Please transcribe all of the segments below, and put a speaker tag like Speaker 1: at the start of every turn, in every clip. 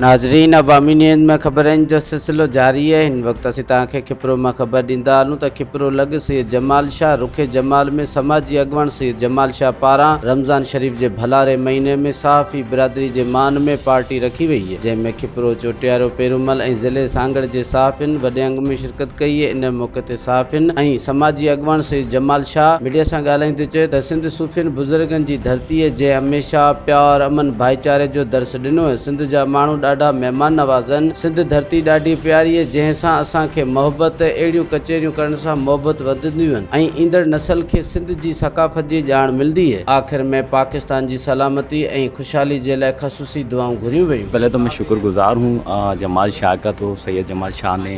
Speaker 1: ناظرين عوامي نيوز ۾ خبرن جو سلسلو جاري آهي هن وقت اسين توهان کي کپرو مان خبر ڏيندا هلون ته کپرو لڳ سيد جمال شاهه رخ جمال ۾ سماجي اڳواڻ سيد جمال شاهه پاران رمضان شريف جي ڀلاري مهيني ۾ صحافي برادري جي مان ۾ پارٽي رکي وئي جنهن ۾ کپرو چوٽيارو پيرومل ۽ ضلعي سانگهڙ جي صحافين وڏي انگ ۾ شرڪت ڪئي، ان موقعي تي صحافين ۽ سماجي اڳواڻ سيد جمال شاهه ميڊيا سان ڳالهائيندي چيو ته سنڌ صوفين بزرگن جي ڌرتي جنهن هميشه پيار، امن، ڀائيچاري جو درس ڏنو سنڌ جا ماڻهو ڏاڍا مهمان نواز هن، سنڌ ڌرتي ڏاڍي پياري هي جنهن سان اسان کي محبت اهڙيون ڪچهريون ڪرڻ سان محبت وڌنديون هن ۽ ايندڙ نسل کي سنڌ جي ثقافت جي ڄاڻ ملندي هي، آخر ۾ پاڪستان جي سلامتي ۽ خوشحالي جي لاء خصوصي دعائون گهريون ويون. پهلي تو مين شڪر گزار
Speaker 2: هون جمال شاهه ڪا تو سيد جمال شاهه ني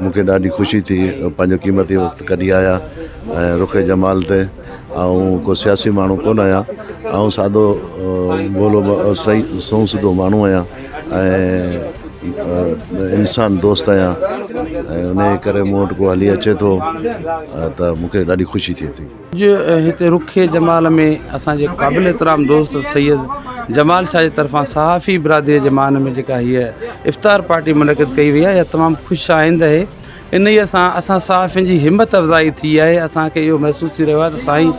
Speaker 3: مونکي ڏاڍي خوشي ٿي پنهنجو قيمتي وقت ڪڍي آيا ۽ رخ جمال تي آئون ڪو سياسي ماڻهو ڪونه آهيان آئون سادو ڀولو سائين سنئون سڌو ماڻهو آهيان ۽ انسان دوست آهيان ۽ انهي ڪري مون وٽ ڪو هلي اچي ٿو ته مونکي ڏاڍي خوشي ٿئي ٿي اڄ هتي رخي
Speaker 4: جمال ۾ اسان جي قابل احترام دوست سيد جمال شاهه جي طرفان صحافي برادري جي مان ۾ جيڪا هيء افطار پارٽي منعقد ڪئي وئي آهي اها تمام خوش آئند اهي انهيء سان اسان صحافين جي همت افزائي ٿي آهي اسان کي اهو محسوس ٿي رهيو آهي ته سائين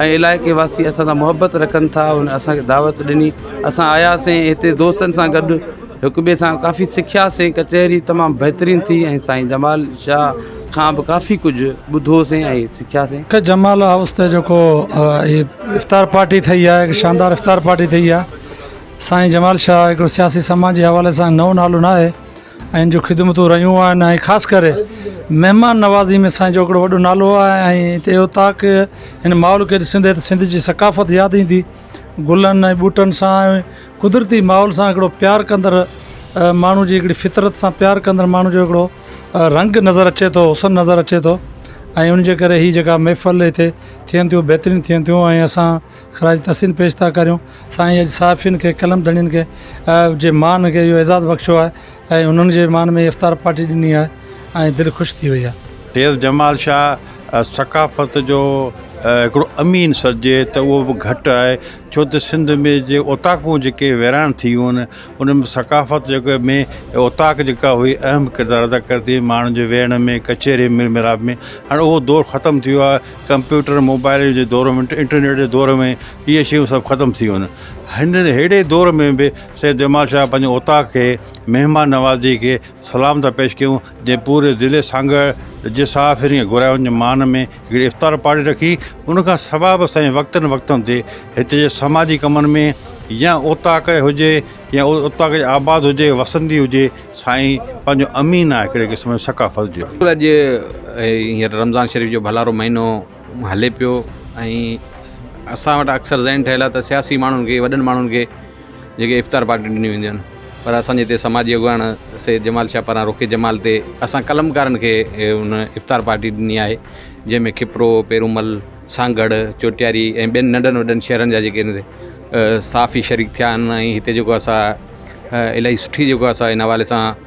Speaker 4: ۽ علائقي واسي اسان سان محبت رکن ٿا ان اسان کي دعوت ڏني اسان آياسين هتي دوستن سان گڏ هڪ ٻئي سان ڪافي سکياسين ڪچهري تمام بهترين ٿي ۽ سائين جمال شاهه کان به ڪافي ڪجهه ٻڌوسين ۽ سکياسين. ڪي جمال هائوس تي
Speaker 5: جيڪو هي افطار پارٽي ٿئي آهي هڪ شاندار افطار پارٽي ٿئي آهي سائين جمال شاهه هڪڙو سياسي سماجي حوالي سان نئون نالو نه آهي ۽ ان جون خدمتون رهيون آهن ۽ خاص ڪري مهمان نوازي ۾ سائين جو هڪڙو وڏو نالو آهي ۽ هتي اوطاق هن ماحول کي ڏسندي ته سنڌ جي ثقافت ياد ايندي گلن ۽ ٻوٽن سان قدرتي ماحول سان هڪڙو پيار ڪندڙ ماڻهو جي هڪڙي فطرت سان پيار ڪندڙ ماڻهو جو هڪڙو رنگ نظر اچي ٿو حسن نظر اچي ٿو ۽ ان جي ڪري هي جيڪا محفل هتي ٿين ٿيون بهترين ٿين ٿيون ۽ اسان خراج تحسين پيش ٿا ڪريون سائين اڄ صحافين کي قلم ڌڻين کي جي مان کي اهو اعزاز بخشيو آهي ۽ انهن جي مان ۾ افطار پارٽي ڏني آهي ۽ دل خوش ٿي وئي آهي. فيض جمال
Speaker 6: شاهه ثقافت جو هڪڙو امين سڏجي ته اهو به گهٽ آهي ڇو ته سنڌ ۾ جي اوطاقون جيڪي ويران ٿي ويون آهن انهن ۾ ثقافت جيڪا ۾ اوطاق جيڪا هئي اهم ڪردار ادا ڪري ٿي ماڻهن جي ويهڻ ۾ ڪچهري ميل ميلاپ ۾ هاڻ اهو دور ختم ٿي ويو آهي ڪمپيوٽر موبائيل جي دور ۾ انٽرنيٽ جي دور ۾ اهي شيون سڀ ختم ٿي ويون آهن هن ههڙي دور ۾ به سيد جمال شاهه پنهنجي اوطاق کي مهمان نوازي کي سلام ٿا پيش ڪيون جنهن پوري ضلعي سانگهڙ جي ساهه ڦرين گهرايون جي مان ۾ هڪڙي افطار پارٽي رکي، ان کان سواء به سائين وقتن وقتن تي هتي جي سماجي ڪمن ۾ يا اوطاق هجي يا اوطاق جي آباد هجي وسندي هجي سائين پنهنجو امين آهي هڪڙي قسم جي ثقافت جو. اڄ هينئر
Speaker 7: رمضان شريف جو ڀلارو مهينو هلي پيو ۽ اسان وٽ اڪثر ذهن ٺهيل آهي ته سياسي ماڻهن کي وڏن ماڻهن کي جيڪي افطار پارٽيون ڏنيون وينديون آهن پر اسان جي هتي سماجي اڳواڻ سيد جمال شاهه پاران رخي جمال تي اسان قلمڪارن کي ان افطار پارٽي ڏني آهي جنهن ۾ کپرو پيرومل سانگهڙ چوٽياري ۽ ٻين ننڍن وڏن شهرن جا جيڪي صحافي شريڪ ٿيا آهن ۽ هتي جيڪو اسان الاهي سٺي جيڪو اسان ان حوالي سان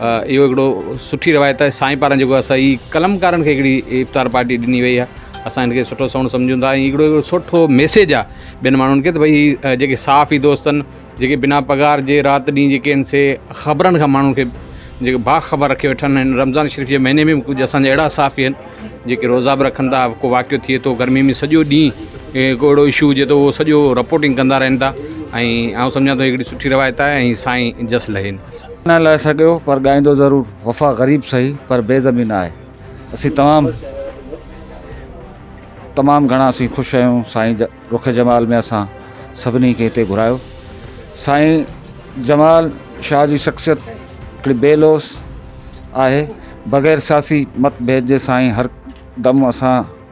Speaker 7: اهو هڪڙو سٺي روايت آهي سائين پاران جيڪو اسان جي قلمڪارن کي هڪڙي افطار پارٽي ڏني وئي آهي اسان ان کي سٺو سهڻو سمجهون ٿا ۽ هڪڙو هڪڙو سٺو ميسيج آهي ٻين ماڻهن کي ته ڀئي هي جيڪي صحافي دوست آهن جيڪي بنا پگهار جي رات ڏينهن جيڪي آهن سي خبرن کان ماڻهن کي جيڪي با خبر رکي ويٺا آهن هن رمضان شريف جي مهيني ۾ به ڪجهه اسان جا اهڙا صحافي آهن جيڪي روزا به رکن ٿا ڪو واقعو ٿئي ٿو گرمي ۾ سڄو ڏينهن ڪو اهڙو اشو هجي ٿو هو سڄو رپورٽنگ ڪندا رهن ٿا ۽ آئون سمجهان ٿو هڪڙي سٺي روايت آهي ۽ سائين جس لهين نه لهي سگهيو
Speaker 8: پر ڳائيندو ضرور وفا غريب سهي پر بي زمين آهي اسين تمام تمام گهڻا اسين خوش آهيون سائين رخ جمال ۾ اسان سڀني کي هتي گهرايو سائين جمال شاهه جي شخصيت هڪڙي بي لوث آهي بغير سياسي مت ڀيد جي سائين هر دم اسان